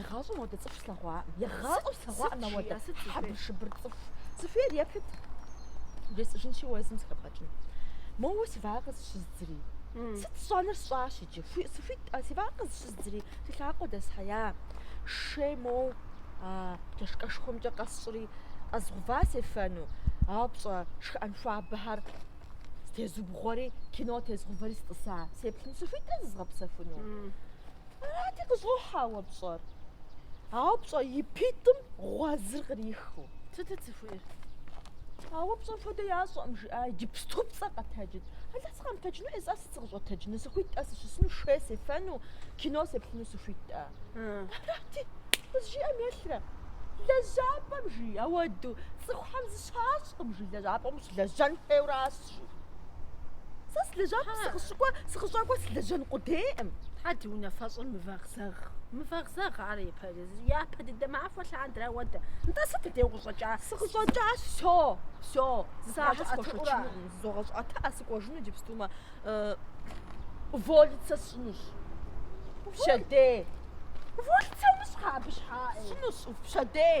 Егъащӏэ модэ цӏыху слъэгъуакъым. Егъащӏэу слъэгъуакъым а модэ. Хьэбыр-шыбыр цӏыху. Цӏыхуейр еплъыт. Жесӏэжынщи уэ езым сыхэпӏэкӏын. Моуэ си вакъэ къызыщыздзри. Сыт сщӏэныр сщӏащ иджы. Сыхуитӏэ си вакъэ къызыщыздзри. Си лъакъуэ дэсхьея. Шей моу а чашкэшхуэмкӏэ къэсщӏри, къэзгъува сефэну. Ауэ пщӏэ шхыӏэн хуабэхэр зытезубгъуэри, кино тезгъувэри сытӏыса. Сеплъын сыхуитӏэ зызгъэпсэхуну. Арати, къыщӏохьэ ауэ пщӏэр. Ауэ пщӏэ и питӏым гъуэзыр кърихыу. Сыт зыхуейр? Ауэ пщӏэ хуэдэ ящӏэкъым, жиӏа, иджыпступцӏэ къэтэджыт. Алла сыкъэмытэджыну сэ сыт сыкъыщӏэтэджыну, сыхуитӏэ, сыщысыну, шей сефэну, кино сеплъыну сыхуитӏэ. Арати, къызжиӏэм елърэ. Лэжьапӏэм жи, ауэду, цӏыхухэм зыщащӏкъым жи, лэжьапӏэм ущылэжьэн хуейуращ. къыщӏэкӏий. Сэ лэжьакӏуэ, сыкъыщыкӏуэ, сыкъыщӏэкӏуэр сылэжьэн къудейкъым. Тхьэ ди унафэщӏыр мывэгъзэгъ, мывэгъзэгъ ар япэ, япэ дыдэ махуэ лъандэрэ ауэдэ. Нтӏэ сыт хуэдэу укъыщӏэкӏа? Сыкъыщӏэкӏащ, всё, всё, зыпащӏэ схуэшэчынукъым, зызогъэщӏэта, сыкӏуэжыну иджыпстумэ, уволиться сщӏынущ. Пщэдей. Уволиться умыщӏ тхьэ абы щхьэкӏи. Сщӏынущ, пщэдей.